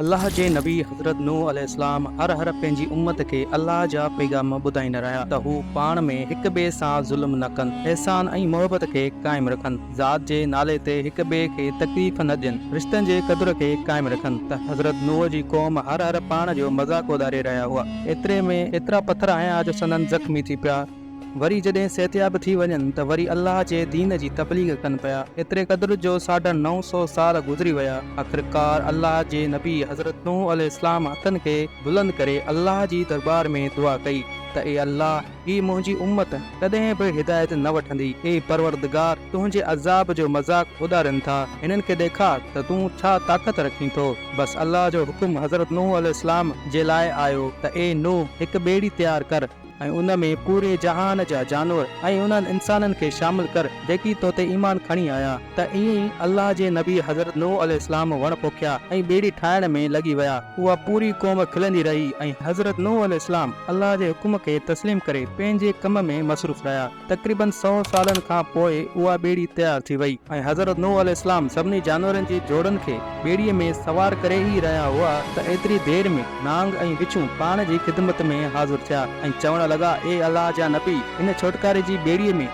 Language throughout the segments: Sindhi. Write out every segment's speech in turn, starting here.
الله جي نبي حضرت نوح عليه السلام هر هر پنهنجي امت کي الله جا پيغام ٻڌائيندا رهيا ته هو پاڻ ۾ هڪ ٻئي سان ظلم نه ڪن، احسان ۽ محبت کي قائم رکن. ذات جي نالي تي هڪ ٻئي کي تڪليف نه ڏين، رشتن جي قدر کي قائم رکن ته حضرت نوح جي قوم هر هر پاڻ جو مذاق اڏاري رهيا هئا، ايتري ۾ ايترا پٿر آيا جو سندن زخمي ٿي پيا، وري جڏهن صحتياب ٿي وڃن ته وري الله جي دين جي تبليغ ڪن پيا، ايتري قدر جو ساڍا نو سؤ سال گذري ويا، آخرڪار الله جي نبي حضرت نوح عليه السلام هٿن کي بلند ڪري الله جي درٻار ۾ دعا ڪئي ته اي الله! هي منهنجي امت ڪڏهن به هدايت نه وٺندي. اي پروردگار! تنهنجي عذاب جو مذاق اڏارين ٿا. هنن کي ڏيکار ته تون ڇا طاقت رکين ٿو. بس الله جو حڪم حضرت نوح عليه السلام جي لاء آيو ته اي نوح! هڪ ٻيڙي تيار ڪر ۽ ان ۾ پوري جهان جا جانور ۽ انهن انسانن کي شامل ڪر، جيڪي تو تي ايمان کڻي آيا، ته ائين ئي الله جي نبي حضرت نوح عليه السلام وڻ پوکيا ۽ ٻيڙي ٺاهڻ ۾ لڳي ويا، اها پوري قوم کلندي رهي ۽ حضرت نوح عليه السلام الله جي حڪم کي تسليم ڪري پنهنجي ڪم ۾ مصروف رهيا، تقريباً سؤ سالن کان پوء اها ٻيڙي تيار ٿي وئي ۽ حضرت نوح عليه السلام سڀني جانورن جي جوڙن کي ٻيڙيء ۾ سوار ڪري ئي رهيا هئا ته ايتري دير ۾ نانگ ۽ وڇون پاڻ جي خدمت ۾ حاضر ٿيا ۽ چوڻ لڳا اي الله جا نبي هن ڇوٽڪاري جي ٻيڙيء ۾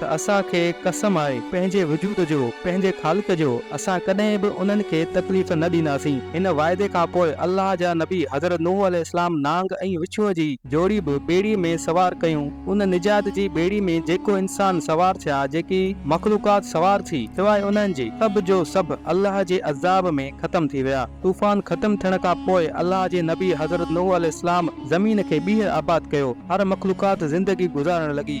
ته اسان کي قسم آهي پنهنجي وجود جو، پنهنجي خالق جو، اسان ڪڏهن به انهن کي تڪليف نه ڏينداسين. هن واعدي کان پوء الله جا نبي حضرت نوح عليه السلام نانگ ۽ وڇوء جي جوڙي به ٻيڙي ۾ سوار ڪيون. ان نجات جي ٻيڙي ۾ جيڪو انسان سوار ٿيا، جيڪي مخلوقات سوار ٿي، سواء انهن جي، سڀ جو سڀ الله جي عذاب ۾ ختم ٿي ويا. طوفان ختم ٿيڻ کان پوء الله جي نبي حضرت نوح عليه السلام زمين کي ٻيهر آباد ڪيو. هر مخلوقات زندگي گذارڻ لڳي.